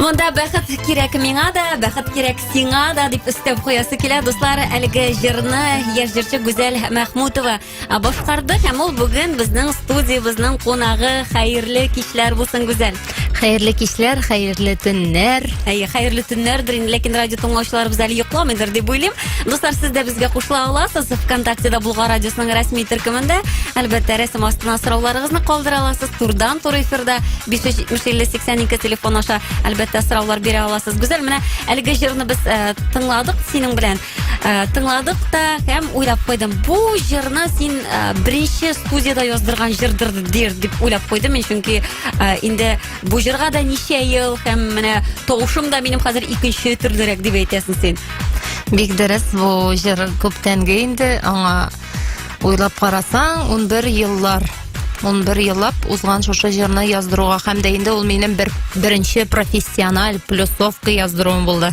Монда бәхет кирәк миңа да, бәхет кирәк сиңа да дип өстәп куясы килә. Дуслар, әлеге җырны яшь җырчы Гүзәл Мәхмүтова башкарды һәм ул бүген безнең студиябезнең кунагы. Хәерле кичләр булсын, Гүзәл. Хәерле кичләр, хәерле төннәр. Әйе, хәерле төннәрдер инде, ләкин радио тыңлаучыларыбыз әле йокламыйдыр дип уйлыйм. Дуслар, сез дә безгә кушыла аласыз. ВКонтактеда Булга радиосының рәсми төркемендә, әлбәттә, рәсем астына сорауларыгызны калдыра аласыз. Турдан тур эфирда 570-50-82 телефон аша, әлбәттә, сораулар бирә аласыз. Гүзәл, менә әлеге җырны без э, тыңладык синең белән. Э, тыңладык та һәм уйлап куйдым бу җырны син э, беренче студияда яздырган җырдыр дир дип уйлап куйдым мин чөнки э, инде бу җырга да ничә ел һәм менә тавышым да минем хәзер икенче төрлерәк дип әйтәсең син бик дөрес бу җыр күптәнге инде аңа Уйлап карасаң, 11 еллар 11 еллап узган шушы җырны яздыруга һәм дә инде ул минем бер беренче профессиональ плюсовка яздыруым булды.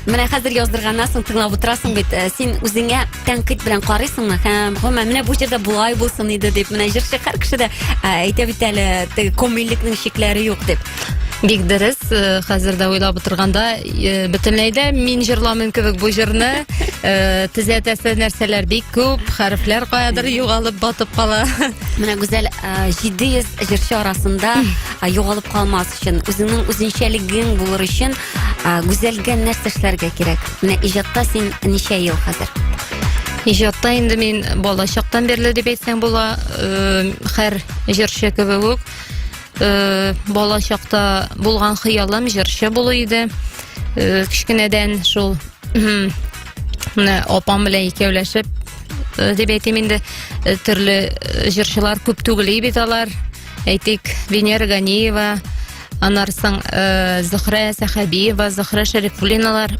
Менә хәзер яздырганнан соң тыңлап утырасың бит, э, син үзеңә тәнкыйть белән карыйсыңмы? Һәм, гомумән, менә бу җырда болай булсын иде дип, менә җырчы һәр кеше дә э, әйтә бит әле, теге комильлекнең чикләре юк дип. Бик дөрес, э, хәзер дә уйлап утырганда, э, бөтенләй дә мин җырламыйм кебек бу җырны. Э, Төзәтәсе нәрсәләр бик күп, хәрефләр каядыр югалып батып кала. Менә Гүзәл а, 700 җырчы арасында а, югалып калмас өчен, үзеңнең үзенчәлегең булыр өчен а, Гүзәлгә нәрсә эшләргә кирәк? Менә иҗатта син ничә ел хәзер? Иҗатта инде мин балачактан бирле дип әйтсәң була, э, хәр җырчы кебек үк. Э, бала чакта булган хыялым җырчы булу иде э, кечкенәдән шул менә апам белән икәүләшеп э, дип әйтим инде төрле җырчылар күп түгел бит алар әйтик венера ганиева аннары соң зөхрә сәхәбиева зөхрә шәрифуллиналар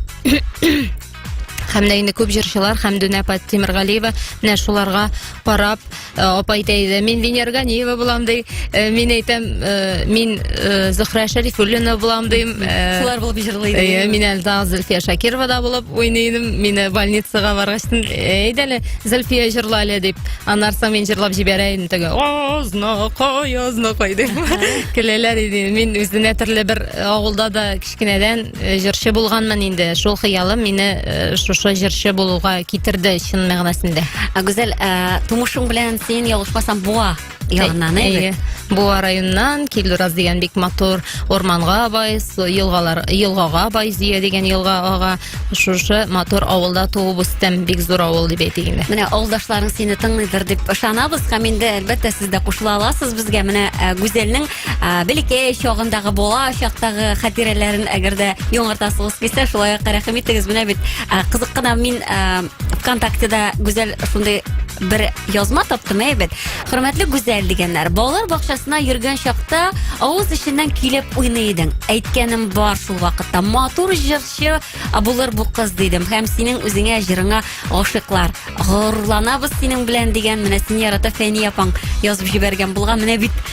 һәм дә инде күп җырчылар һәм Дүнә Тимергалиева менә шуларга карап э, апа әйтә иде мин Венера Ганиева булам ди э, мин әйтәм э, мин Зөхрә Шәрифуллина булам дим шулар булып җырлый иде мин әле Зөлфия Шакирова да булып уйный идем мин больницага баргач әйдә әле Зөлфия җырла әле дип аннан соң мин җырлап җибәрә идем теге ознакай ознакай дип көләләр иде мин үзенә төрле бер авылда да кечкенәдән Э, җырчы булганмын инде шул хыялым мине э, шушы җырчы булуга китерде чын мәгънәсендә гүзәл э, тумышың белән син ялгышмасам буа ягыннан әйе буа районыннан килдураз дигән бик матур орманга бай елгалар елгага бай зөя дигән елга ага шушы матур авылда туып үстем бик зур авыл дип әйтик инде менә авылдашларың сине тыңлыйдыр дип ышанабыз һәм инде әлбәттә сез дә кушыла аласыз безгә менә гүзәлнең ә, бәләкәй чагындагы бала чактагы хатирәләрен әгәр дә яңартасыгыз килсә шулай ук рәхим итегез менә бит ә, кызык кына мин ә, вконтактеда гүзәл шундый бер язма таптым әйбәт хөрмәтле гүзәл дигәннәр балалар бакчасына йөргән чакта авыз эченнән килеп уйный идең әйткәнем бар шул вакытта матур җырчы а, булыр бу кыз дидем һәм синең үзеңә җырыңа гашыйклар горурланабыз синең белән дигән менә сине ярата фәния апаң язып җибәргән булган менә бит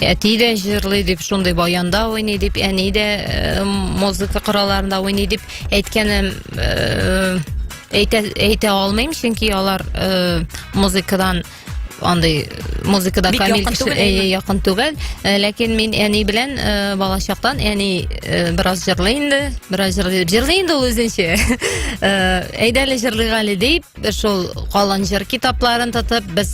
әти дә җырлый дип шундый баянда уйный дип әни дә э, музыка коралларында уйный дип әйткәнем э, әйтә, әйтә алмыйм чөнки алар э, музыкадан андый музыкада Бик камил кеше әйе якын түгел э, ләкин мин әни белән э, балачактан әни э, бераз җырлый инде бераз җырлый җырлый инде ул үзенчә әйдәле җырлыйк әле дип Шул калын җыр китапларын тотып, без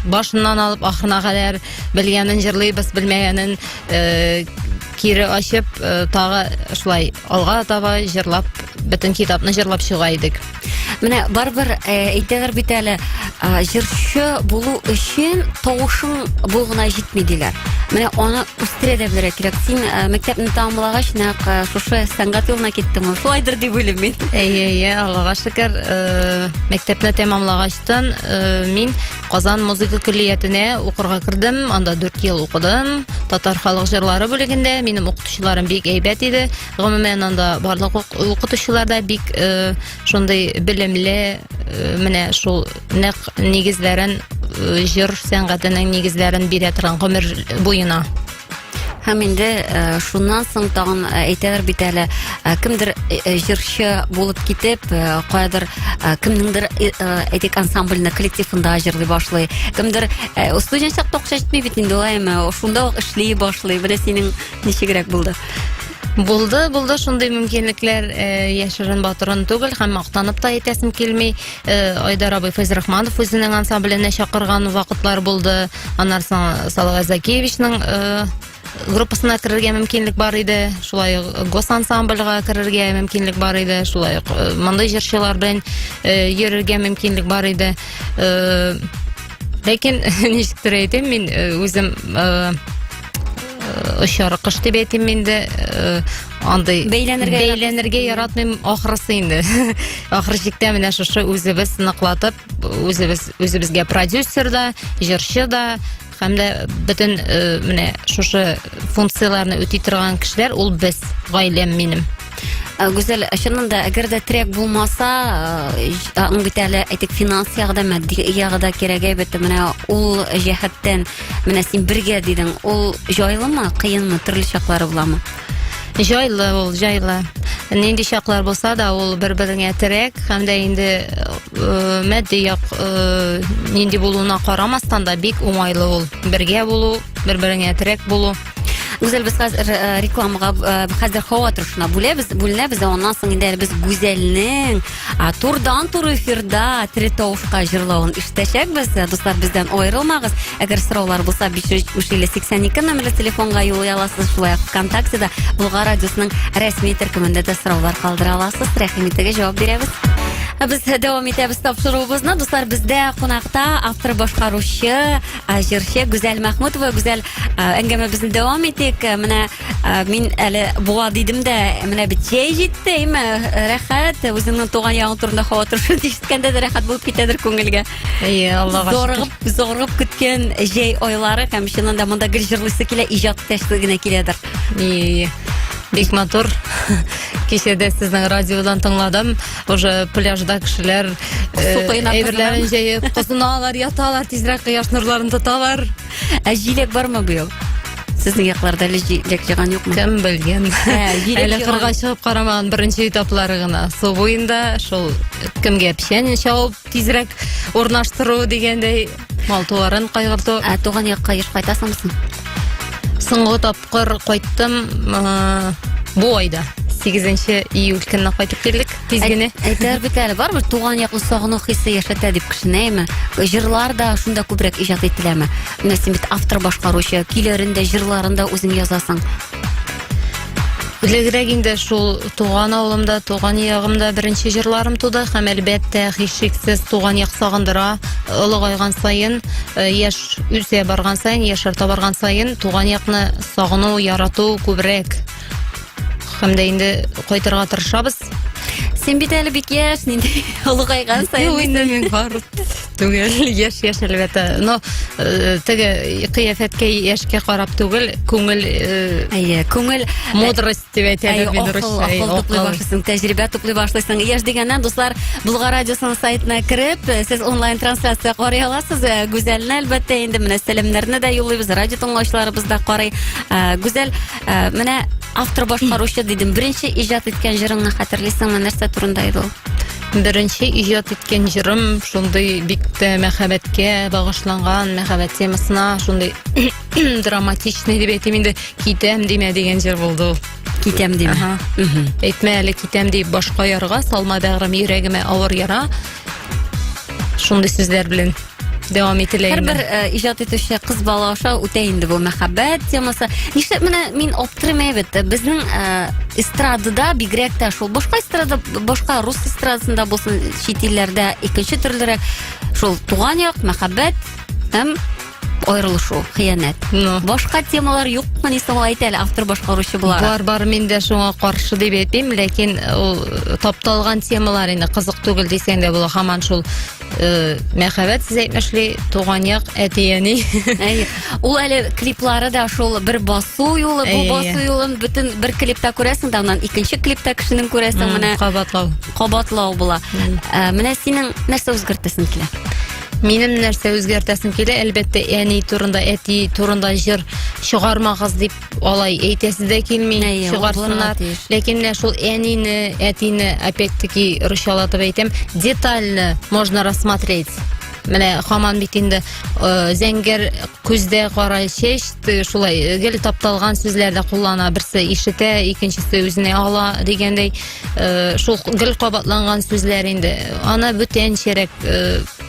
башыннан алып ахырына кадәр белгәнен җырлыйбыз, белмәгәнен э, кире ачып, э, тагы шулай алга таба җырлап, бөтен китапны җырлап чыга идек. Менә барыбер э, әйтәләр бит әле, э, җырчы булу өчен тавышың бу гына җитми диләр. Менә аны үстерә дә белергә кирәк син ә, мәктәпне тәмамлагач нәкъ ә, шушы сәнгать юлына киттең ул шулайдыр дип уйлыйм мин Әйе, әйе, Аллага шөкер. Э, Мәктәпне тәмамлагачтан э, мин Казан музыка көллиятенә укырга кердем. Анда 4 ел укыдым. Татар халык җырлары бүлегендә минем укытучыларым бик әйбәт иде. Гомумән анда барлык ук- укытучылар да бик э, шундый белемле э, менә шул нәк нигезләрен э, җыр сәнгатенең нигезләрен бирә торган гомер буена һәм инде э, шуннан соң тагын э, әйтәләр бит әле э, кемдер җырчы булып китеп каядыр кемнеңдер әйтик ансамбльне коллективында җырлый башлый кемдер студент чакта акча җитми бит инде улайма шунда ук эшли башлый менә синең ничегрәк булды Булды, булды шундый мөмкинлекләр э, яшерен батырын түгел һәм мактанып та әйтәсем килми. Э, Айдар абый Фәйз Рахманов үзенең ансамбленә чакырган вакытлар булды. Аннан соң Салават Закевичның э, группасына керергә мөмкинлек бар иде. Шулай ук госансамбльга керергә мөмкинлек бар иде. Шулай ук э, мондый җырчылар белән э, йөрергә мөмкинлек бар иде. Э, Ләкин ничектер әйтим, мин э, үзем э, очар кыш дип әйтим инде э, андый бәйләнергә бәйләнергә яратмыйм ахрысы инде ахыр чиктә менә шушы үзебез сыныклатып үзебез үзебезгә продюсер да җырчы да һәм дә бөтен э, менә шушы функцияләрне үти торган кешеләр ул без гаиләм минем Ә, Гүзәл, чыннан да, әгәр дә трек булмаса, э, ж- ә, ң бит әле әйтик финанс ягыда, мәдди ягыда кирәк әйбәт. Менә ул җәһәттән, менә син бергә дидең, ул җайлымы, кыенмы, төрле чаклары буламы? Җайлы ул, җайлы. Нинди чаклар булса да, ул бер-береңә терәк, һәм дә инде э, матди як э, нинди булуына карамастан да бик уңайлы ул. Бергә булу, бер-береңә терәк булу. Гүзәл, без хәзер э, рекламага э, хәзер һава торышына бүләбез, бүленәбез, ә аннан соң инде без Гүзәлнең а, турдан тур эфирда Третовка җырлавын ишетәчәкбез. Э, дуслар, бездән аерылмагыз. Әгәр сораулар булса, 582 номерлы телефонга юл аласыз. Шулай ук ВКонтактеда Булга радиосының рәсми төркемендә дә сораулар калдыра аласыз. Рәхим итегез, җавап бирәбез. Ә без дәвам итәбез тапшыруыбызны. Дуслар, бездә кунакта автор башкаручы Ә җырчы Гүзәл Мәхмүтова Гүзәл әңгәмәбезне дәвам итик. Менә мин әле буа дидем дә, менә бит җәй җитте, әйме, рәхәт. Үзеңнең туган яңы турында хаватыр шул ишеткәндә дә рәхәт булып китәдер күңелгә. Әйе, Аллага шөкер. Зорыгып, зорыгып көткән җәй айлары һәм чыннан да монда гел җырлыйсы килә, иҗат итәсе генә киләдер. Әйе, әйе. Бик матур. Кичәдә сезнең радиодан тыңладым. уже пляжда кешеләр әйберләрен җәеп кызыналар яталар тизрәк кояш нурларын тоталар ә җиләк бармы быел Сезнең якларда әле җиләк җыйган юкмы? Кем белгән? Әле кырга чыгып карамаган беренче этаплары гына. Су буенда шул кемгә печән чабып тизрәк урнаштыру дигәндәй Мал-туарын кайгырту. Ә туган якка еш кайтасыңмы соң? Соңгы тапкыр кайттым э, бу айда. 8 июль көнне кайтып килдек тиз генә. Әйтәр бит әле барыбер туган якны сагыну хисе яшәтә дип кешене әйме. Җырлар да шунда күбрәк иҗат ителәме? Менә син бит автор башкаручы, көйләрен дә, җырларын да үзең язасың. Элегрәк инде шул туган авылымда, туган ягымда беренче җырларым туды һәм әлбәттә һичшиксез туган як сагындыра. Олыгайган саен, э, яшь үсә барган саен, яшь арта барган саен туган якны сагыну, ярату күбрәк. Һәм дә инде кайтырга тырышабыз. Син бит әле бик яшь, нинди олыгайган саен. Юк, инде мин бар. Түгел, яшь яшь әлбәттә. Но э, теге кыяфәткә яшькә карап түгел, күңел э, Әйе, күңел мудрость дип Әйе, әйтәләр бит акыл, русча. Әй, акыл туплый акыл. башлыйсың, тәҗрибә туплый башлыйсың. Яшь дигәннән, дуслар, Булгар радиосының сайтына кереп, э, сез онлайн трансляция карый аласыз. Э, Гүзәлне әлбәттә инде менә сәламнәрне дә юллыйбыз, радио тыңлаучыларыбыз да карый. Э, Гүзәл, э, менә автор башкаручы дидем. Беренче иҗат иткән җырыңны хәтерлисеңме? Нәрсә турында иде ул? Беренче иҗат иткән җырым шундый бик тә мәхәббәткә багышланган, мәхәббәт темасына шундый драматичный дип әйтим инде, китәм димә дигән җыр булды ул. Китәм димә. Ага. Әйтмә әле китәм дип башка ярга, салма бәгърем йөрәгемә авыр яра. Шундый сүзләр белән. дәвам ителә инде. Һәрбер э, иҗат итүче кыз бала аша үтә инде бу мәхәббәт темасы. Нишләп менә мин аптырыйм әйбәт, безнең э, эстрадада бигрәк тә шул башка эстрада, башка рус эстрадасында булсын, чит илләрдә икенче төрлерәк шул туган як, мәхәббәт һәм аерылышу, хыянәт. Ну. Башка темалар юкмы ни соң әйт әле автор башкаручы буларак. Бар, бар, мин дә шуңа каршы дип әйтмим, ләкин ул тапталган темалар инде кызык түгел дисәң дә була, һаман шул э, мәхәббәт сез әйтмешли туган як әти әни Әй, ул әле клиплары да шул бер басу юлы, бу Әй, әй, басу әй. юлын бөтен бер клипта күрәсең дә, аннан икенче клипта кешенең күрәсең, М, менә кабатлау кабатлау була. М. Ә, Менә синең нәрсә үзгәртәсең килә? минем нәрсә үзгәртәсем килә әлбәттә әни турында әти турында җыр чыгармагыз дип алай әйтәсе дә килми Әйе, чыгарсыннар ләкин менә шул әнине әтине опять таки русчалатып әйтәм детально можно рассмотреть менә хаман бит инде э, зәңгәр күздә кара чәч шулай э, гел тапталган сүзләр дә куллана берсе ишетә икенчесе үзенә ала дигәндәй э, шул гел кабатланган сүзләр инде аны бүтәнчәрәк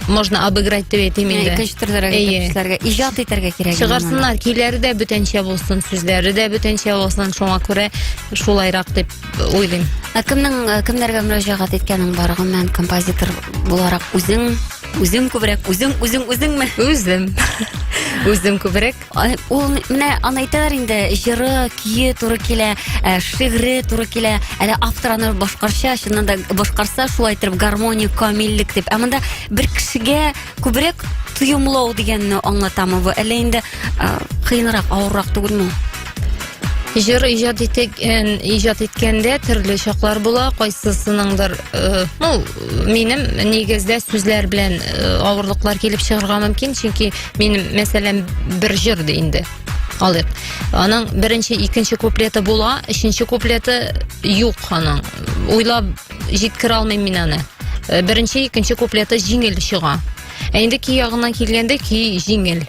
можно обыграть деп әйтим инде икенче төрлерәк итеп эшләргә иҗат итәргә кирәк чыгарсыннар көйләре дә бүтәнчә булсын сүзләре дә бүтәнчә булсын шуңа күрә шулайрак дип уйлыйм ә кемнең э, кемнәргә мөрәҗәгать иткәнең бар гомумән композитор буларак үзең үзең күбрәк үзең үзең үзеңме үзем үзем күбрәк Ул менә аны әйтәләр инде, җыры, көе туры килә, э, шигъре туры килә. Әле автор аны башкарча, чыннан да башкарса, шулай итеп гармония, камиллек дип. Ә монда бер кешегә күбрәк тоемлау дигәнне аңлатамы бу? Әллә инде э, кыенрак, авыррак түгелме? Җыр иҗат иткән, иҗат иткәндә төрле чаклар була, кайсысыныңдыр, э, ну, минем нигездә сүзләр белән э, авырлыклар килеп чыгарга мөмкин, чөнки мин мәсәлән бер җыр ди инде алыйк аның беренче икенче куплеты була өченче куплеты юк аның уйлап җиткерә алмыйм мин аны э, беренче икенче куплеты җиңел чыга ә инде көй ягына килгәндә көй җиңел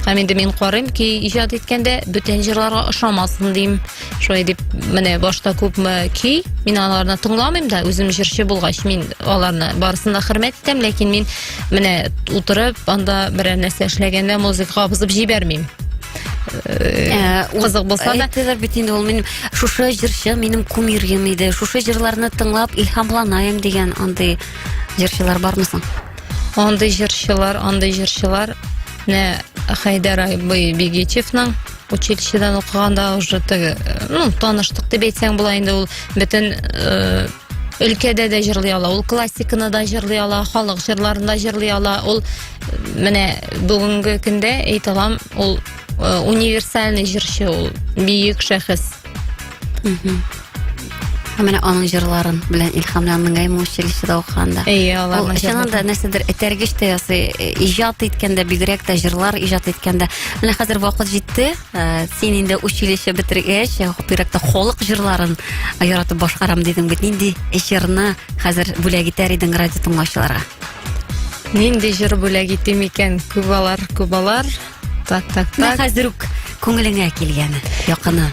һәм инде мин карыйм көй иҗат иткәндә бүтән җырларга ошамасын дим шулай дип менә башта күпме көй мин аларны тыңламыйм да үзем җырчы булгач мин аларны барысын да хөрмәт итәм ләкин мин менә утырып анда берәр нәрсә эшләгәндә музыка кабызып җибәрмим Э, кызык болса да әйтәләр бит инде ул минем шушы җырчы минем кумирым иде шушы җырларны тыңлап илһамланайым дигән андый җырчылар бармы соң андый җырчылар андый җырчылар менә хайдар бегичевның училищедан укыганда уже теге ну таныштык дип әйтсәң була инде ул бөтен э, өлкәдә дә җырлый ала ул классиканы да җырлый ала халык җырларын да җырлый ала ул менә бүгенге көндә әйтә алам ул э, универсальный җырчы ул бөек шәхес Һәм менә аның җырларын белән илһамландың әйме училищеда укыганда. Әйе, алар. Ул чыннан да нәрсәдер этәргеч тә ясый, э, иҗат иткәндә, бигрәк тә җырлар иҗат иткәндә. Менә хәзер вакыт җитте. Э, син инде училище бетергәч, э, бигрәк тә халык җырларын яратып башкарам дидең бит. Нинди җырны хәзер бүләк итәр идең радио тыңлаучыларга? Нинди җыр бүләк итим икән? Күбалар, күбалар. Так, так, так. Хәзер үк күңелеңә килгәне, якыны.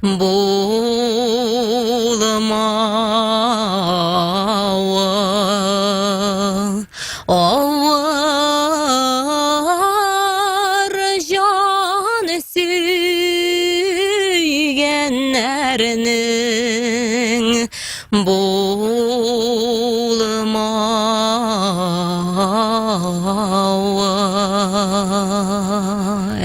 Булмавы авыр җан сөйгәннәрнең. булмавы.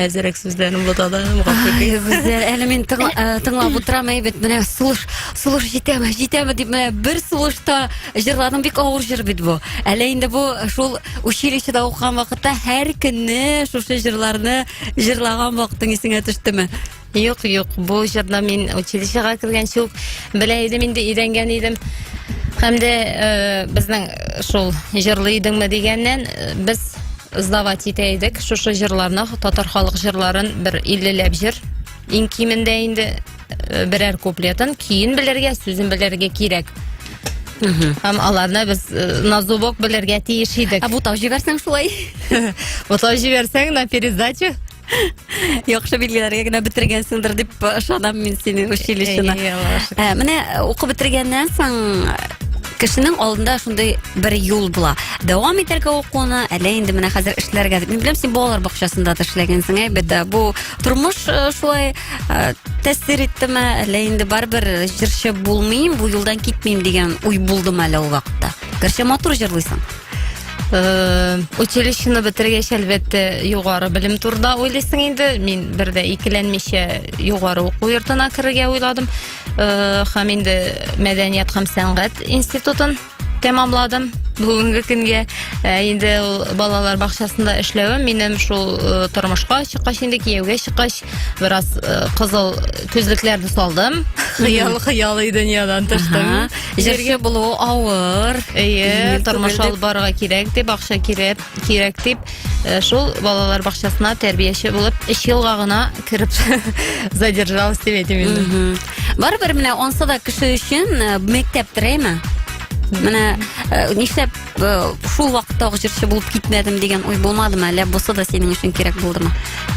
Әзерәк сүзләрен бутадым, гафу Ай, итегез. Гүзәл, әле мин тыңла- э, тыңлап утырам, әйбәт, менә сулыш, сулыш җитәме, җитәме дип, менә бер сулышта җырладым, бик авыр җыр бит бу. Әле инде бу шул училищеда укыган вакытта һәр көнне шушы җырларны җырлаган вакытың исеңә төштеме? Юк, юк, бу җырны мин училищега кергәнче үк белә идем инде, өйрәнгән идем. Һәм дә э, безнең шул җырлый идеңме дигәннән э, без сдавать итә идек шушы җырларны, татар халык җырларын бер 50 ләп җыр. Иң кимендә инде э, берәр куплетын, киен белергә, сүзен белергә кирәк. Һәм аларны без э, на зубок белергә тиеш идек. Ә бутап җибәрсәң шулай. Бутап җибәрсәң на пересдачу. яхшы билгеләргә генә бетергәнсеңдер дип ышанам мин сине училищены ә, менә укып бетергәннән соң кешенең алдында шундый бер юл була дәвам итәргә укуны әллә инде менә хәзер эшләргә мин беләм син балалар бакчасында да эшләгәнсең әйбәт ә бу тормыш э, шулай э, тәэсир иттеме әллә инде барыбер җырчы булмыйм бу юлдан китмим дигән уй булдымы әле ул вакытта гәрчә матур җырлыйсың Э, училищены бетергәч әлбәттә югары белем турында уйлыйсың инде мин бер дә икеләнмичә югары уку йортына керергә уйладым э, һәм инде мәдәният һәм сәнгать институтын тәмамладым бүгінгі күнге ә, енді балалар бақшасында эшләвем минем шул ә, тормышка чыккач енді кияүгә чыккач бераз э, кызыл күзлекләрне салдым. Хыял, хыял и дөньядан тыштым. Җиргә булу авыр. Әйе, тормыш алып барырга кирәк дип, акча кирәк, кирәк дип, э, шул балалар бакчасына тәрбияче булып 3 елга гына кереп задержалась дип әйтим инде. Барыбер менә онса да кеше өчен э, мәктәп терәйме? Менә э, нишләп э, шул вакытта ук җырчы булып китмәдем дигән уй булмадымы? Әллә бусы да синең өчен кирәк булдымы?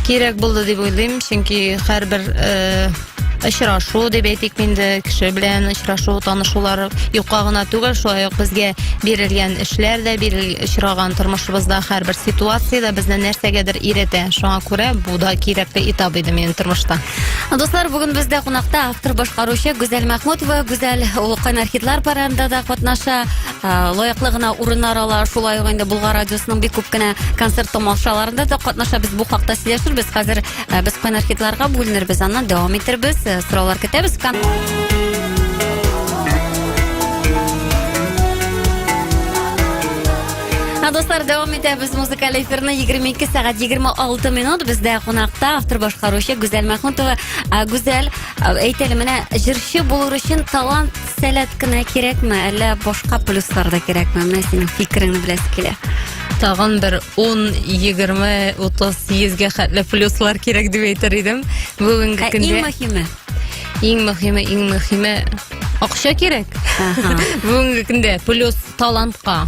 Кирәк булды дип уйлыйм, чөнки һәрбер э, очрашу дип әйтик инде кеше белән очрашу танышулар юкка гына түгел шулай ук безгә бирелгән эшләр дә бирел очраган тормышыбызда һәрбер ситуация да безне нәрсәгәдер өйрәтә шуңа күрә бу да кирәкле этап иде минем тормышта дуслар бүген бездә кунакта автор башкаручы гүзәл мәхмүтова гүзәл ул кайнар хитлар парадында да катнаша лаеклы гына урыннар ала шулай ук инде булгар радиосының бик күп кенә концерт тамашаларында да катнашабыз бу хакта сөйләшербез хәзер без кайнар хитларга бүленербез аннан дәвам итербез сораулар көтәбез Дуслар, дәвам итәбез музыкаль эфирны 22 сәгать 26 минут. Бездә кунакта автор башкаручы Гүзәл Мәхмүтова. Гүзәл, әйтәле менә җырчы булыр өчен талант Сәләт кенә кирәкме, әллә башка плюслар да кирәкме? Менә синең фикереңне беләсе килә. Тагын бер 10, 20, 30, 100-гә хәтле плюслар кирәк дип әйтер идем. Бүгенге ә көндә Иң мөһиме. Иң мөһиме, иң мөһиме акча кирәк. Бүгенге көндә плюс талантка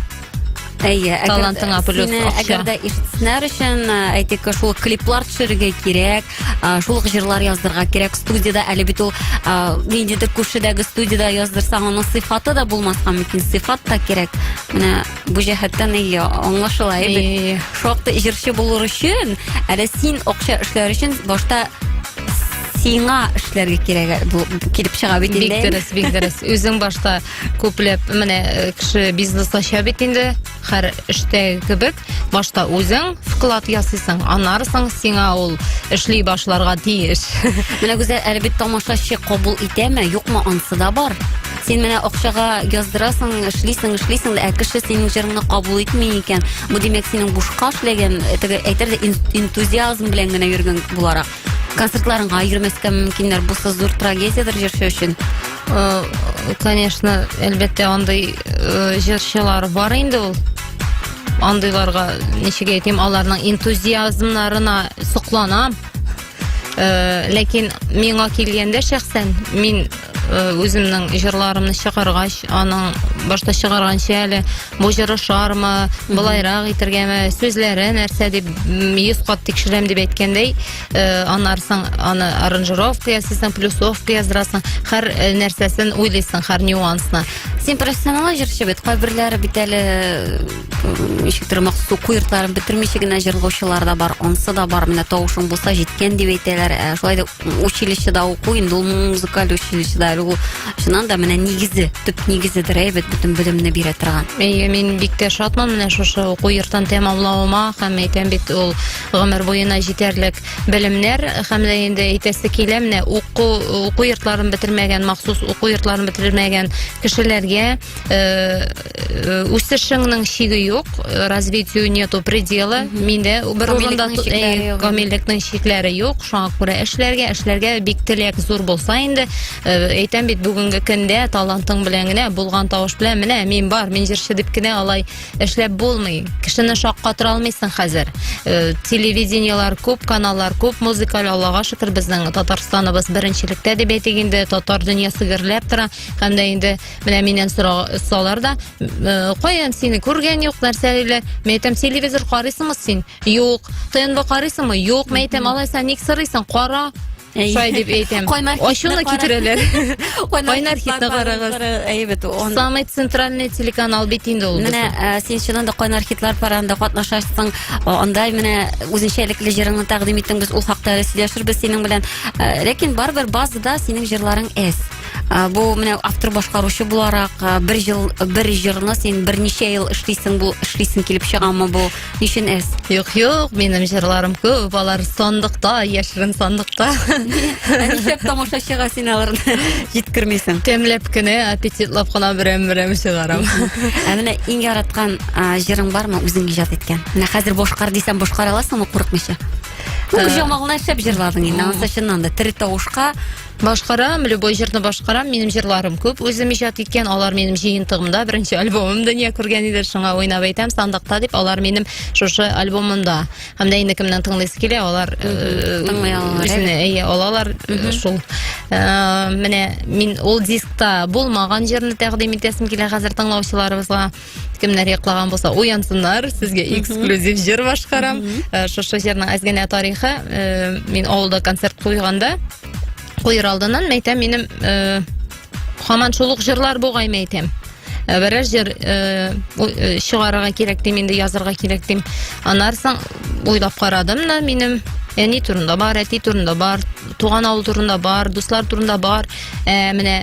Әйе, әгәр- Талантыңа плюс сине акча. Әгәр дә ишетсеннәр өчен, ә, әйтик, шул ук клиплар төшерергә кирәк, а, шул ук җырлар яздырырга кирәк студиядә, әле бит ул а, ниндидер күршедәге студиядә яздырсаң, аның сыйфаты да булмаска мөмкин, сыйфат та кирәк. Менә бу җәһәттән әйе, аңлашыла, әйе бит? Әйе. шактый җырчы булыр өчен, әле син акча эшләр өчен башта сиңа эшләргә кирәк бу килеп чыга бит Бик инде. дөрес, бик дөрес. Үзең башта Күпләп менә э, кеше бизнес ача бит инде, һәр эштәге кебек, башта үзең вклад ясыйсың, анарсың сиңа ул эшли башларга тиеш. Менә гүзәл әле бит тамашачы кабул итәме, юкмы ансы да бар. Син менә акчага яздырасың, эшлисең, эшлисең, ә кеше синең җырыңны кабул итми икән. Бу димәк синең бушка эшләгән, әйтер интузиазм белән генә йөргән буларак. концертларыңа йөрмәскә мөмкиннәр булса зур трагедиядер җырчы өчен э, конечно әлбәттә андый э, җырчылар бар инде ул андыйларга ничек әйтим аларның энтузиазмнарына сокланам э, ләкин миңа килгәндә шәхсән мин үземнең җырларымны чыгаргач аның башта чыгарганчы әле бу җыр ошармы, былайрак итергәме, сүзләре нәрсә дип м, йөз кат тикшерәм дип әйткәндәй, э, анарсың аны аранжировка ясыйсың, плюсовка яздырасың, һәр э, нәрсәсен уйлыйсың, һәр нюансны. Син профессионал җырчы бит, кайберләре бит әле м, ничектер махсус уку йортларын бетермичә генә җырлаучылар да бар, ансы да бар. Менә тавышың булса җиткән дип әйтәләр. Ә шулай да училищеда уку инде ул музыкаль училищеда әле ул чыннан да менә нигезе төп нигезедер әй бит бөтен белемне бирә торган әйе мин бик тә шатмын менә шушы уку йортын тәмамлавыма һәм әйтәм бит ул гомер буена җитәрлек белемнәр һәм дә инде әйтәсе килә менә уку уку йортларын бетермәгән махсус уку йортларын бетермәгән кешеләргә Э, э, үсешеңнең чиге юк э, развитию нету предела миндә бер урында камиллекнең чикләре юк шуңа күрә эшләргә эшләргә бик теләк зур булса инде әйтәм бит бүгенге көндә талантың белән генә булган тавыш белән менә мин бар мин җырчы дип кенә алай эшләп булмый кешене шаккатыра алмыйсың хәзер телевидениелар күп каналлар күп музыкаль аллага шөкер безнең татарстаныбыз беренчелектә дип әйтик инде татар дөньясы гөрләп тора һәм дә инде Менә миннән сорасалар да, э, каян сине күргән юк, нәрсә әле? Мин әйтәм, телевизор карыйсыңмы син? Юк. ТНВ карыйсыңмы? Юк. Мин әйтәм, алайса ник сорыйсың? Кара. Шулай дип әйтәм. Ачуны китерәләр. Кайнар хитне карагыз. Әйбәт ул. Самый центральный телеканал бит инде ул. Менә э, син чыннан да кайнар хитлар паранда катнашасың. Анда менә үзенчәлекле җырыңны тәкъдим иттең. Без ул хакта сөйләшербез синең белән. Э, ләкин барыбер базада синең җырларың әз. Ә, бу менә автор башкаручы буларак ә, бер жыл бер җырны син берничә ел эшлисең бу эшлисең килеп чыгамы бу ничен эс Юк, юк, минем җырларым күп, алар сандыкта, яшерен сандыкта. Ә нишләп тамашачыга син аларны җиткермисең Тәмләп кенә, аппетитлап кына берәм-берәм чыгарам. ә менә иң яраткан ә, җырың бармы үзең иҗат иткән менә хәзер башкар дисәм башкара аласыңмы курыкмыйча ну Ә. җамалны шәп җырладың инде анысы чыннан да тере тавышка Башкарам, любой җырны башкарам. Минем җырларым күп үзем иҗат иткән. Алар минем җыентыгымда беренче альбомым дөнья күргән иде. Шуңа уйнап әйтәм, сандыкта дип алар минем шушы альбомымда. Һәм дә инде кемнән тыңлыйсы килә, алар э, тыңлый алалар. Үзенә әйе, алалар э, шул. Э, менә мин ул дискта булмаган җырны тәкъдим итәсем килә хәзер тыңлаучыларыбызга. кемнәр яклаган булса уянсыннар сезгә эксклюзив җыр башкарам э, шушы җырның әз генә тарихы э, мин авылда концерт куйганда куер алдыннан мәйтәм минем э, хаман шул ук җырлар бугай мәйтәм Э, берәр җыр э, э, чыгарырга кирәк дим инде язырга кирәк дим аннары соң уйлап карадым да минем әни турында бар әти турында бар туган авыл турында бар дуслар турында бар ә, менә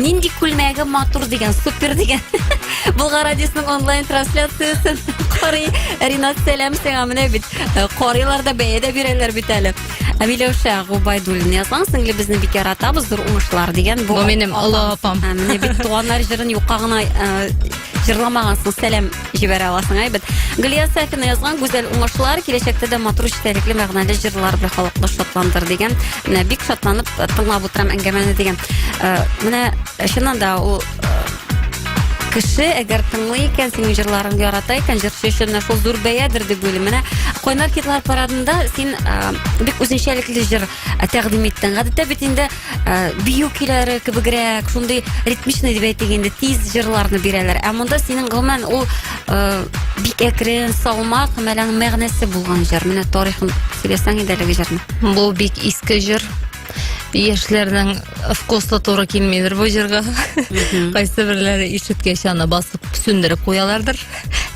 Нинди күлмәге матур дигән, супер дигән. Булгар радиосының онлайн трансляциясен карый. Ринат, сәлам сиңа. Менә бит э, карыйлар да бәя дә бирәләр бит әле. Ә Миләүшә Губайдуллина язган, сеңлебезне бик яратабыз, зур уңышлар дигән. Бу минем олы апам. Ә, Менә бит туганнар җырын юкка гына э, җырламагансың. Сәлам җибәрә аласың әйбәт глия сафина язган гүзәл уңышлар киләчәктә дә матур эчтәлекле мәгънәле җырлар белән халыкны шатландыр дигән менә бик шатланып э, тыңлап утырам әңгәмәне дигән э, менә э, чыннан да ул кеше әгәр тыңлый икән синең җырларыңды ярата икән җырчы өчен менә шул зур бәядер дип уйлыйм менә кайнар хитлар парадында син бик үзенчәлекле җыр ә, тәкъдим иттең. Гадәттә бит инде ә, бию көйләре кебегрәк, шундый ритмичный дип әйтик инде, тиз җырларны бирәләр. Ә монда синең гомумән ул ә, бик әкрен, салмак, һәм әле аның мәгънәсе булган җыр. Менә тарихын сөйләсәң иде әлеге җырны. Бу бик иске җыр. Яшьләрнең вкусы туры килмидер бу җырга. Кайсы берләре ишеткәч аны басып сүндереп куялардыр.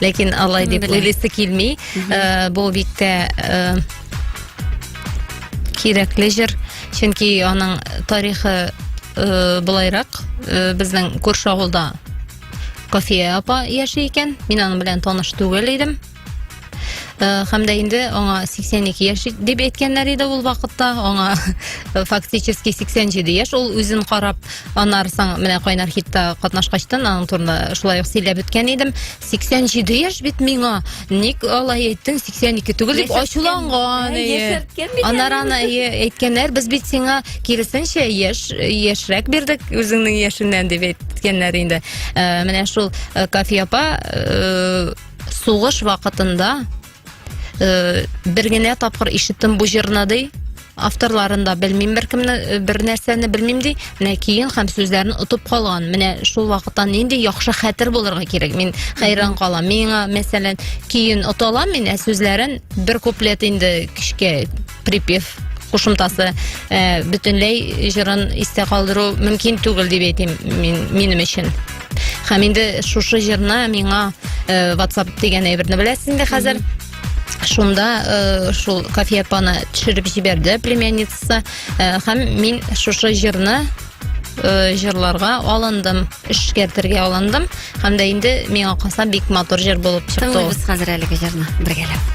Ләкин алай дип Белә. уйлыйсы килми. Э, Бу бик тә э, кирәкле җыр, чөнки аның тарихы э, былайрак, э, безнең күрше авылда Кофия апа яши икән, мин аның белән таныш түгел идем. Э, һәм дә инде аңа 82 яшь дип әйткәннәр иде ул вакытта, аңа фактически 87 яшь, ул үзен карап, аннары соң менә кайнар хитта катнашкачтан аның турында шулай ук сөйләп үткән идем. 87 яшь бит миңа. Ник алай әйттең 82 түгел дип ачуланган. Анар ана әйткәннәр, без бит сиңа киресенчә яшь яшьрәк бирдек үзеңнең яшеннән дип әйткәннәр инде. Э, менә шул э, Кафи апа э, сугыш вакытында э, бер генә тапкыр ишеттем бу җырны ди авторларын да белмим беркемне э, бер нәрсәне белмим ди менә киен һәм сүзләрен отып калган менә шул вакыттан нинди яхшы хәтер булырга кирәк мин хәйран калам миңа мәсәлән киен ота алам мин ә сүзләрен бер куплет инде кичкә припев кушымтасы э, бөтенләй җырын истә калдыру мөмкин түгел дип әйтим мин, минем өчен һәм инде шушы җырны миңа э, ватсап дигән әйберне беләсез инде хәзер шунда э, шул кафе апаны төшереп җибәрде племянницасы э, һәм мин шушы җырны Э, җырларга алындым эшкәртергә алындым һәм дә инде миңа калса бик матур җыр булып чыкты тыңлыйбыз хәзер әлеге җырны бергәләп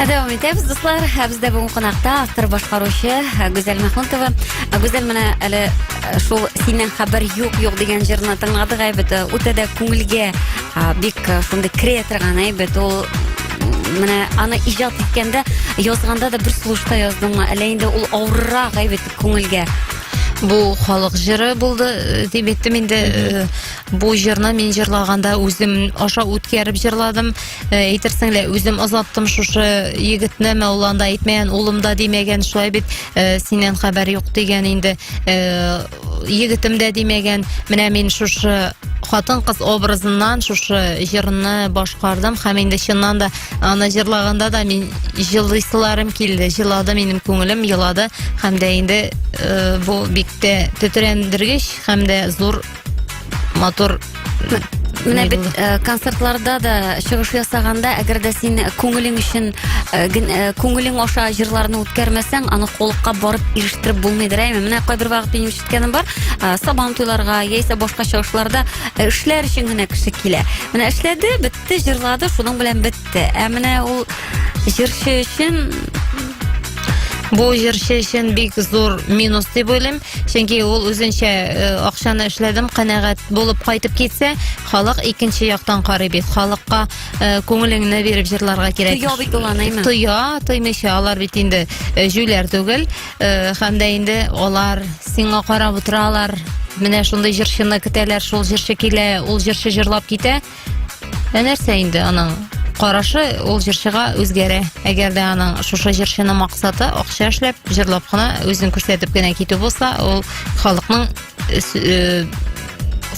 Дәвам итәбез, дуслар. Ә бездә бүгін кунакта автор башкаручы ә, Гүзәл Мәхмүтова. Ә, Гүзәл менә әле ә, шул синнән хәбәр юк юк дигән җырны тыңладык әйбәт. Ә, Үтә дә күңелгә ә, бик ә, шундый керә торган әйбәт. Ул м, менә аны иҗат иткәндә, язганда да бер сулышта яздыңмы? Әллә инде ул авыррак әйбәт күңелгә? Бу халык җыры булды э, дип әйттем инде. Э, Бу җырны мин җырлаганда үзем аша үткәреп җырладым. әйтерсең лә үзем озаттым шушы егетне мәуланда әйтмәгән улым да димәгән шулай бит э, синнән хәбәр юк дигән инде э, егетем дә димәгән менә мин шушы хатын кыз образыннан шушы җырны башкардым һәм инде чыннан да аны җырлаганда да мин җылыйсыларым килде җылады минем күңелем елады һәм дә инде э, бу бик тә тетрәндергеч һәм дә зур матур Менә бит э, концертларда да чыгыш ясаганда, әгәр дә син күңелең өчен э, э, күңелең аша җырларны үткәрмәсәң, аны холыкка барып ирештереп булмыйдыр әйме. Менә кайбер вакыт минем ишеткәнем бар, сабан туйларга яисә башка чыгышларда эшләр өчен генә кеше килә. Менә эшләде, әйтте, җырлады, шуның белән бетте. Ә менә ул җырчы өчен Бу җырчы өчен бик зур минус дип уйлыйм, чөнки ул үзенчә э, акчаны эшләдем, канәгать булып кайтып китсә, халык икенче яктан карый бит. Халыкка э, күңелеңне биреп җырларга кирәк. Тоя бит ул аныймы? Тоя, тоймыйча алар бит инде э, җүләр түгел, э, һәм дә инде алар сиңа карап утыралар. Менә шундый җырчыны көтәләр, шул җырчы килә, ул җырчы җырлап китә. Ә нәрсә инде аның карашы ул җырчыга үзгәрә. Әгәр дә аның шушы җырчыны максаты акча эшләп, җырлап кына үзен күрсәтеп кенә китү булса, ул халыкның э, э,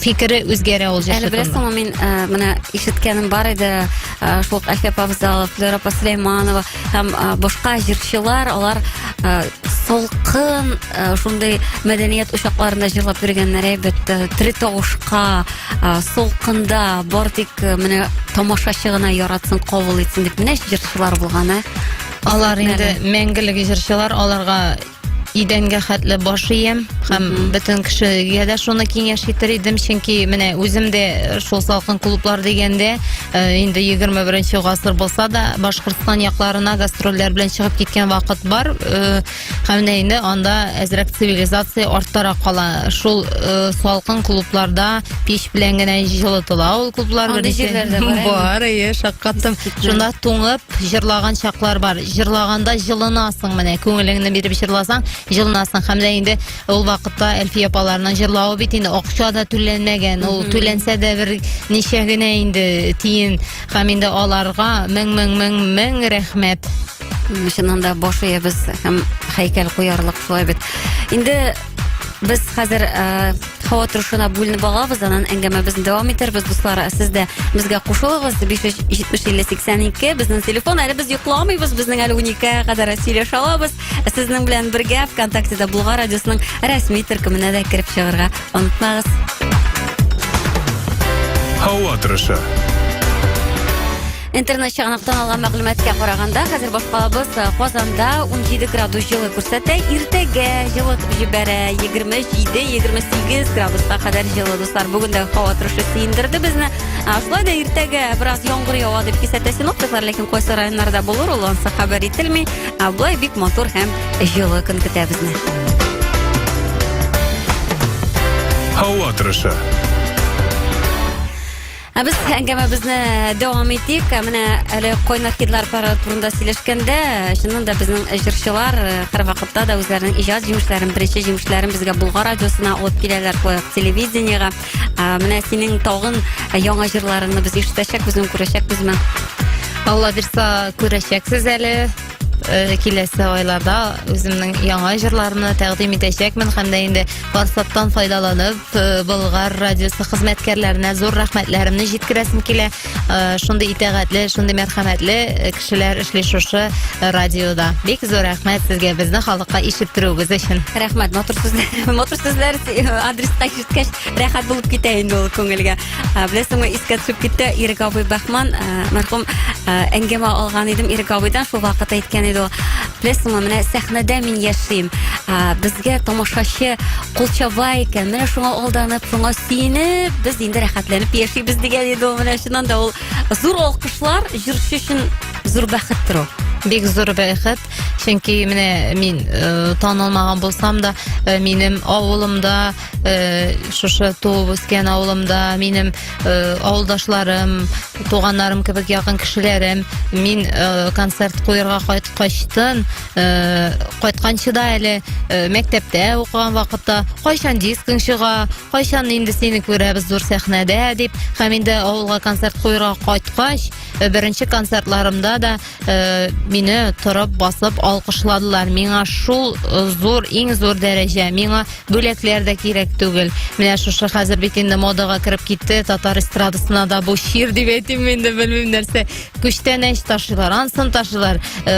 фикере үзгәрә ул җырчы. Әле беләсеңме, мин э, менә ишеткәнем бар иде, шул Әхәп Абзалов, Флера Паслейманова һәм башка җырчылар, алар салкын шундый мәдәният учакларында җырлап йөргәннәр әйбәт, тере тавышка, ә, солкында бар тик ә, менә тамашачы гына яратсын кабул итсен дип менә җырчылар булган ә алар инде мәңгелек җырчылар аларга идәнгә хәтле баш ием һәм бөтен кешегә дә шуны киңәш итер идем чөнки менә үзем дә э, шул салкын клублар дигәндә э, инде егерме беренче гасыр булса да башкортстан якларына гастрольләр белән чыгып киткән вакыт бар э, Һәм менә инде анда әзрәк цивилизация арттарак кала. Шул э, салкын клубларда пич белән генә җылытыла ул клублар. Андый беренче. җирләр дә бар, әйе. Бар, әйе, шаккаттым. Шунда туңып җырлаган чаклар бар. Җырлаганда җылынасың менә, күңелеңне биреп җырласаң, җылынасың. Һәм менә инде ул вакытта Әлфия апаларның җырлавы бит инде акча да түләнмәгән. Ул түләнсә дә бер ничә генә инде тиен. Һәм инде аларга мең-мең-мең-мең рәхмәт. чыннан да баш иябез һәм һәйкәл куярлык шулай бит инде без хәзер э, һава торышына бүленеп алабыз анан әңгәмәбезне дәвам итәрбез дуслар ә сез дә безгә кушылыгыз биш йөз җитмеш илле сиксән ике безнең телефон әле без йокламыйбыз безнең әле уникегә кадәр сөйләшә алабыз ә сезнең белән бергә вконтактеда булган радиосының рәсми төркеменә дә кереп чыгарга онытмагыз һава торышы Интернет чыганаклардан алган мәгълүматка караганда, хәзер башкалабыз э, Казанда 17 градус җылы күрсәтә. Иртәгә җылы җибәрә 27-28 градуска кадәр җылы дуслар. Бүген дә һава торышы сөендерде безне. Шулай да иртәгә бераз яңгыр ява дип кисәтә синоптиклар, ләкин кайсы районнарда булыр ул ансы хәбәр ителми. Болай бик матур һәм җылы көн көтә безне. Һава торышы. Ә без әңгәмәбезне дәвам итик. Ә менә әле кайнар хитлар пары турында сөйләшкәндә, чыннан да безнең җырчылар э, һәрвакытта да үзләренең иҗат җимешләрен, беренче җимешләрен безгә Булгар радиосына алып киләләр, шулай ук телевидениегә. Ә менә синең тагын яңа җырларыңны без ишетәчәкбез, күрәчәкбезме? Алла бирса күрәчәксез әле. э, киләсе айларда үземнең яңа җырларымны тәкъдим итәчәкмен һәм дә инде форсаттан файдаланып э, Болгар радиосы хезмәткәрләренә зур рәхмәтләремне җиткерәсем килә. Э, Шундый итәгатьле, шундый мәрхәмәтле э, кешеләр эшли шушы радиода. Бик зур рәхмәт сезгә безне халыкка ишеттерүегез өчен. Рәхмәт, матур сүзләр. Матур сүзләр адреска ишеткәч, рәхәт булып китә инде ул күңелгә. Ә, Беләсеңме, искә төшеп китте Ирек абый Бахман, ә, мәрхүм ә, әңгәмә алган идем Ирек абыйдан, шул вакыт әйткән иде ул. Беләсеңме, менә сәхнәдә мин яшим. Ә, Безгә тамашачы кулчаба икән. Менә шуңа алданып, шуңа сөенеп, без инде рәхәтләнеп яшибез дигән иде ул. Менә чыннан да ул зур алкышлар җырчы өчен зур бәхеттер ул. Бик зур бәхет, чөнки менә мин э, танылмаган булсам да, э, минем авылымда э, шушы туып үскән авылымда минем э, авылдашларым туганнарым кебек якын кешеләрем мин э, концерт куярга кайткачтын э, кайтканчы да әле э, мәктәптә укыган вакытта кайчан дискың чыга кайчан инде сине күрәбез зур сәхнәдә дип һәм инде авылга концерт куярга кайткач э, беренче концертларымда да Э, мине торып басып алкышладылар миңа шул э, зур иң зур дәрәҗә миңа бүләкләр дә кирәк түгел менә шушы хәзер бит инде модага кереп китте татар эстрадасына да бу чир дип әйтим инде белмим нәрсә күчтәнәч ташыйлар ансын ташыйлар э,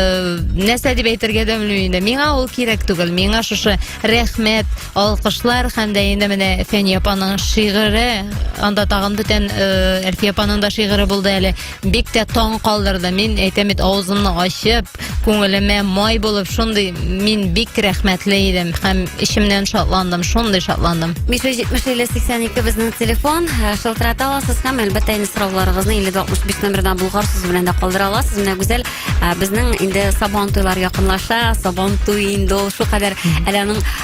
нәрсә дип әйтергә дә белмим инде миңа ул кирәк түгел миңа шушы рәхмәт алкышлар һәм дә инде менә фәния апаның шигыре анда тагын бүтән әлфия апаның да шигыре булды әле Бик тә таң калдырды. Мин әйтәм бит, авызымны ачып, күңелемә май булып, шундый мин бик рәхмәтле идем һәм эчемнән шатландым, шундый шатландым. 570-52 безнең телефон, ә, шылтырата аласыз һәм әлбәттә инде сорауларыгызны 5065 номерына булгар сүзе белән дә калдыра аласыз. Менә Гүзәл, ә, безнең инде Сабан туйлар якынлаша, Сабан туй инде ул шулкадәр әле аның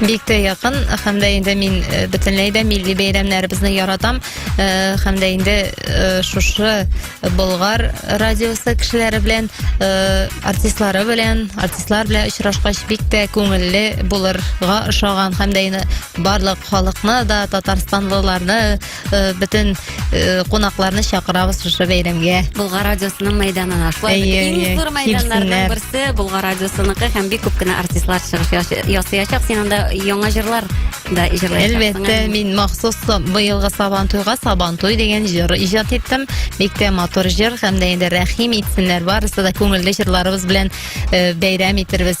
бик тә якын һәм дә инде мин э, бөтенләй дә милли бәйрәмнәребезне яратам э, һәм дә инде э, шушы Болгар радиосы кешеләре белән артистлары белән артистлар белән очрашкач бик тә күңелле булырга ошаган һәм дә инде барлык халыкны да татарстанлыларны э, бөтен э, кунакларны чакырабыз шушы бәйрәмгә. Булга радиосының мәйданына. Шулай Әйе, бит, әйе, иң зур мәйданнарның килсеннәр. берсе Булга радиосыныкы һәм бик күп кенә артистлар чыгыш яш- ясыячак. Син анда яңа җырлар да җырлаячаксың. Әлбәттә, Әм, мин махсус са- быелгы Сабан туйга Сабан туй дигән җыр иҗат иттем. Бик тә матур җыр һәм дә инде рәхим итсеннәр. Барысы да күңелле җырларыбыз белән э, бәйрәм итербез.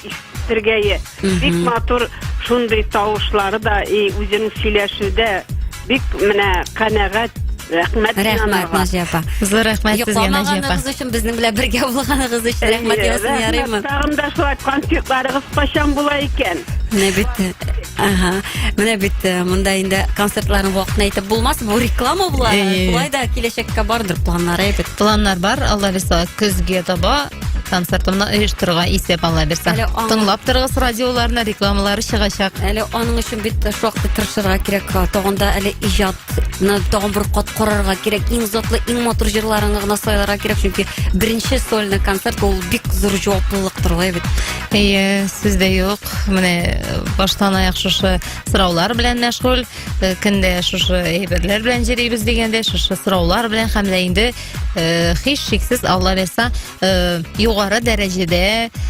ишетергәе. Бик матур шундый тавышлары да и үзенең сөйләшүдә бик менә канәгать. Рәхмәт Рәхмәт Наҗия апа. Зур рәхмәт сезгә Наҗия апа. Йокламаганыгыз өчен безнең белән бергә булганыгыз өчен рәхмәт ясын ярыймы? Тагын да шулай концертларыгыз кайчан була икән? Менә бит. Ага. Менә бит э, монда инде концертларның вакытын әйтеп булмас. Бу реклама була. Шулай да киләчәккә бардыр планнар әйтеп. Планнар бар. Алла риза көзгә таба концерт мына оештыруга исәп ала бирсә Әле аңа- тыңлап торыгыз радиоларны рекламалары чыгачак Әле аның өчен бит шактый тырышырга кирәк. Тагын да әле иҗатны тагын бер кат карарга кирәк. Иң затлы, иң матур җырларыңны гына сайларга кирәк, чөнки беренче сольный концерт ул бик зур җаваплылыктыр ул бит. Әйе, сүз дә юк. Менә э, баштан аяк шушы сораулар белән мәшгуль. Э, Көндә шушы әйберләр белән җөрибез дигәндә, шушы сораулар белән һәм дә инде э, һич шиксез алла бирса э, югары дәрәҗәдә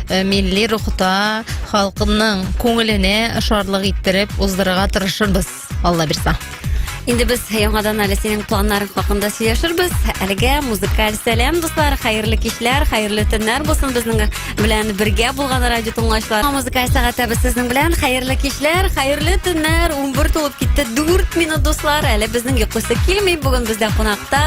э, милли рухта халкымның күңеленә шатлык иттереп уздырырга тырышырбыз алла бирса Инде без яңадан әле синең планнарың хакында сөйләшербез. Әлегә музыкаль сәлам, дуслар, хәерле кичләр, хәерле төннәр булсын безнең белән бергә булган радио тыңлаучылар. Музыка сәгате без сезнең белән. Хәерле кичләр, хәерле төннәр. 11 тулып китте. 4 минут дуслар. Әле безнең йокысы килми. Бүген бездә кунакта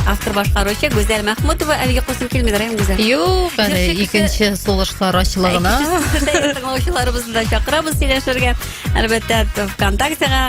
автор башкаручы Гүзәл Мәхмүтова. Әле йокысы килми, Рәйм Гүзәл. Юк, әле икенче сулышлар ачылыгына. Тыңлаучыларыбызны да чакырабыз сөйләшергә. Әлбәттә, ВКонтактега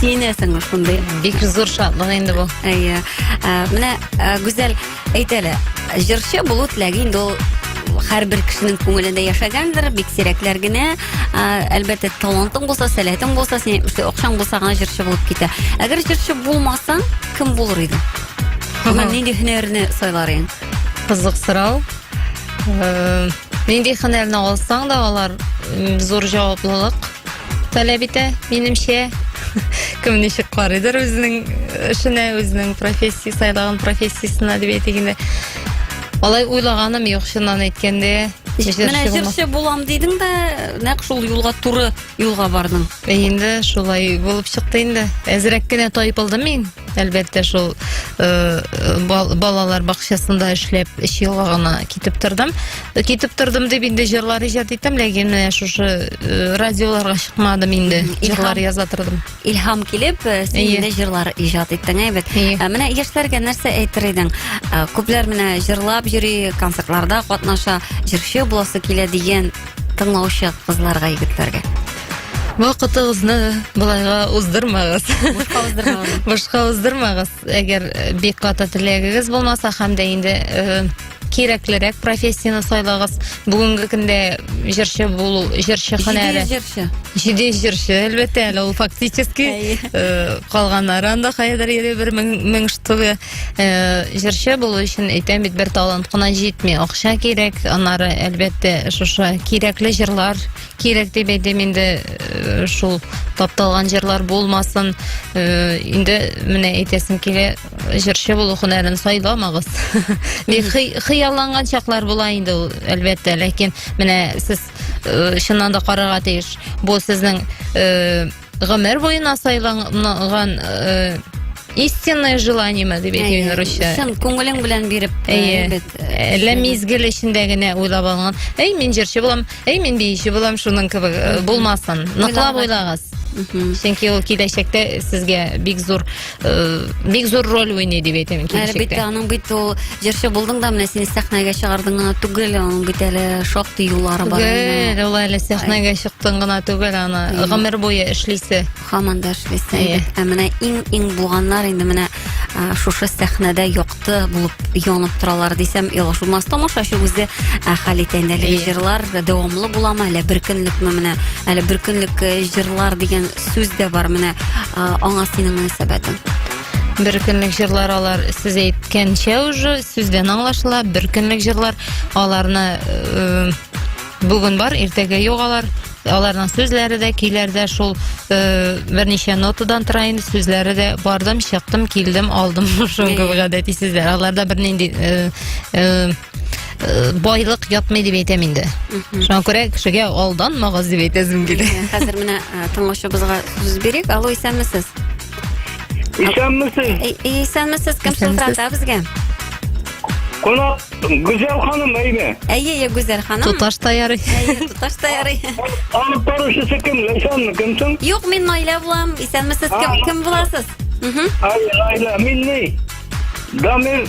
сөенәсең шундый бик зур шатлык инде бу әйе менә гүзәл әйт әле җырчы булу теләге инде ул һәрбер кешенең күңелендә яшәгәндер бик сирәкләр генә әлбәттә талантың булса сәләтең булса син акчаң булса гына җырчы булып китә әгәр җырчы булмасаң кем булыр идең нинди һөнәрне сайлар ең кызык сорау нинди һөнәрне алсаң да алар зур жауаплылык таләп итә, минемчә. Кем ничек карыйдыр үзенең эшенә, үзенең профессия сайлаган профессиясенә дип әйтик инде. Алай уйлаганым юк, чыннан әйткәндә. Менә җырчы булам дидең дә, нәкъ шул юлга туры юлга бардың. Инде шулай булып чыкты инде. Әзрәк кенә тайпылдым мин. әлбәттә шул э, балалар бакчасында эшләп эш елга гына китеп тордым китеп тордым дип инде җырлар иҗат иттем ләкин менә шушы э, радиоларга чыкмадым инде җырлар яза тордым илһам килеп э, син инде җырлар иҗат иттең әйбәт менә яшьләргә нәрсә әйтер идең күпләр менә җырлап йөри концертларда катнаша җырчы буласы килә дигән тыңлаучы кызларга, егетләргә? Вакытыгызны былайга уздырмагыз. Бушка уздырмагыз. Бушка уздырмагыз. Әгәр э, бик каты теләгегез булмаса һәм дә инде э, кирәклерәк профессияне сайлагыз. Бүгенге көндә җырчы булу, җырчы һөнәре. Җиде җырчы. Җиде җырчы, әлбәттә, әле ул фактически э, калганнар анда хәзер йөри бер мең штугы. Э, җырчы булу өчен әйтәм бит бер талант кына җитми акча кирәк аннары әлбәттә шушы кирәкле җырлар кирәк дип әйтәм инде э, шул тапталган җырлар булмасын э, инде менә әйтәсем килә җырчы булу һөнәрен сайламагыз бик хыялланган чаклар була инде ул әлбәттә ләкин менә сез чыннан да карарга тиеш бу сезнең гомер буена сайланган э, истинное желание ма дип әйтә инде русча чын күңелең белән биреп э, әйе әллә э, мизгел эчендә генә уйлап алган әй мин җырчы булам әй мин биюче булам шуның кебек э, булмасын ныклап уйлагыз чөнки ул киләчәктә сезгә бик зур э, бик зур роль уйный дип әйтәм әле бит аның бит ул җырчы булдың да менә син сәхнәгә чыгардың гына түгел аның бит әле шактый юллары бар түгел ул әле сәхнәгә чыктың гына түгел аны гомер буе эшлисе һаман да эшлисе ә менә иң иң булганнар инде менә шушы сәхнәдә якты булып янып торалар дисәм ялгыш булмас тамашачы үзе хәл итә инде әлеге җырлар дәвамлы буламы әллә бер көнлекме менә әле бер көнлек җырлар дигән сүз дә бар менә аңа синең мөнәсәбәтең бер көнлек җырлар алар сез әйткәнчә уже сүздән аңлашыла бер көнлек җырлар аларны э, бүген бар иртәгә юк алар аларның сүзләре дә көйләре дә шул э, берничә нотадан тора инде сүзләре дә бардым чыктым килдем алдым шуңгы гадәти сүзләр аларда бернинди э, э, байлык ятмый дип әйтәм инде шуңа күрә кешегә алданмагыз дип әйтәсем килә хәзер менә э, тыңлаучыбызга сүз бирик алло исәнмесез исәнмесез исәнмесез кем шылтырата безгә Кунак Гүзәл ханым әйме? Әйе, әйе, Гүзәл ханым. Туташ та ярый. Әйе, туташ та ярый. Алып баручысы кем? Ләйсәнме, кемсең? Юк, мин Наилә булам. Исәнмесез, кем, кем буласыз? Угу. Наилә, мин ни? Дамир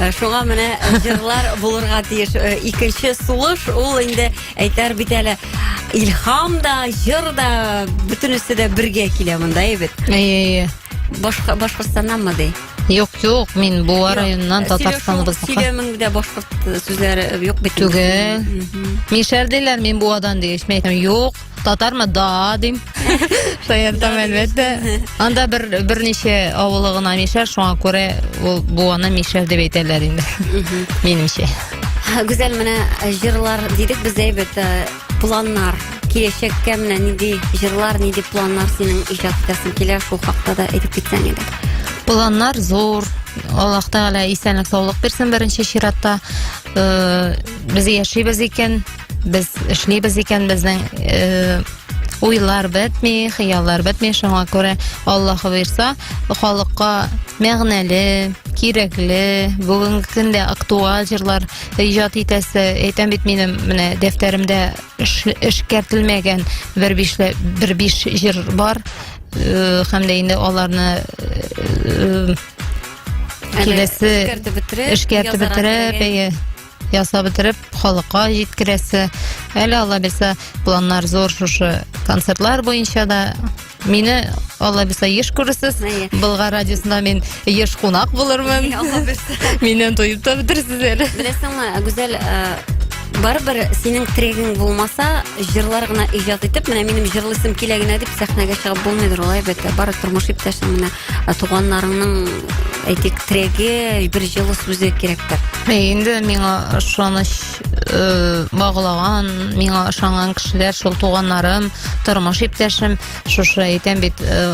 Э, шуңа менә э, җырлар булырга тиеш э, икенче сулыш ул инде әйтәр бит әле илһам да җыр да бөтенесе дә бергә килә монда әйбет әйе башкортстаннанмы ди Юк, юк, мин Буа районыннан Татарстаныбызга. Сөйләмеңдә башкорт сүзләре юк бит. Түгел. Мин шәр диләр, мин Буадан дигәч, мин әйтәм, юк, Татармы? Да, дим. Таятам, әлбәттә. Анда бер берничә авылы гына мишәр, шуңа күрә ул бу аны мишәр дип әйтәләр инде. Минемчә. Гүзәл менә э, җырлар дидек без әйбәт э, планнар киләчәккә менә нинди җырлар, нинди планнар синең иҗат итәсең килә шул хакта да әйтеп китсәң иде. Планнар зур. Аллаһ Тәгалә исәнлек саулык бирсен беренче чиратта. Э, Без яшибез икән, без эшлибез икән безнең э, уйлар бетми, хыяллар бетми, шуңа күрә Аллаһы бирса, халыкка мәгънәле, кирәкле, бүгенге көндә актуаль җырлар иҗат итәсе, әйтәм бит минем менә дәфтәремдә эшкәртелмәгән бер бишле бер биш җыр бар, э, һәм дә инде аларны э, э, киләсе эшкәртеп бетереп, эшкәртеп бетереп, ясап бетереп, халыкка җиткерәсе. Әле Алла бирсә, планнар зур шушы концертлар буенча да. Мине Алла бирсә еш күрерсез. Әйе. Болгар радиосында мин еш кунак булырмын. Алла бирсә. Миннән тоеп та бетерсез әле. Беләсеңме, Гүзәл, э, барыбер синең трегың булмаса, җырлар гына иҗат итеп, менә минем җырлыйсым килә генә дип сәхнәгә чыгып булмыйдыр, алай бит. Бары тормыш иптәшең менә. ә туганнарыңның әйтик терәге бер җылы сүзе кирәктер инде миңа ышаныч э, баглаган миңа ышанган кешеләр шул туганнарым тормыш иптәшем шушы әйтәм бит э,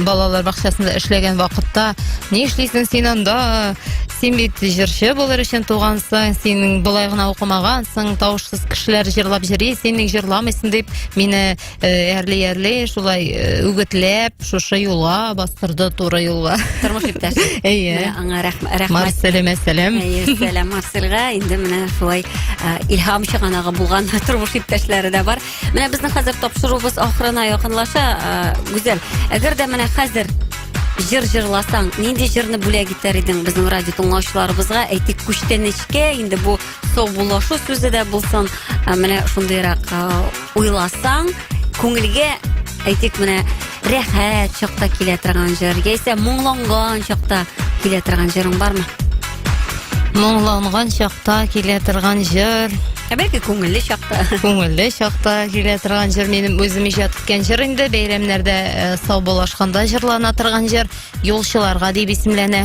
балалар бакчасында эшләгән вакытта ни эшлисең син анда син бит җырчы булыр өчен тугансың син болай гына укымагансың тавышсыз кешеләр җырлап йөри син ник җырламыйсың дип мине Әрли э, әрли шулай э, үгетләп шушы юлга бастырды туры юлга. Тормыш иптәш. Әйе. Аңа рәхмәт. Марселе мәсәләм. Әйе, сәлам Марсельга. Инде менә шулай э, илһам чыганагы булган тормыш иптәшләре дә бар. Менә безнең хәзер тапшыруыбыз ахырына якынлаша. Гүзәл, әгәр дә менә хәзер жыр жырласаң нинди жырны бүләк итәр идең безнең радио тыңлаучыларыбызга әйтик күчтәнечкә инде бу саубуллашу сүзе дә булсын ә, менә шундыйрак ә, уйласаң күңелгә әйтик менә рәхәт чакта килә торган җыр яисә моңланган чакта килә торган җырың бармы моңланган чакта килә торган җыр ә бәлки күңелле чакта күңелле чакта килә торган җыр минем үзем иҗат иткән җыр инде бәйрәмнәрдә ә, саубуллашканда җырлана торган җыр юлчыларга дип исемләнә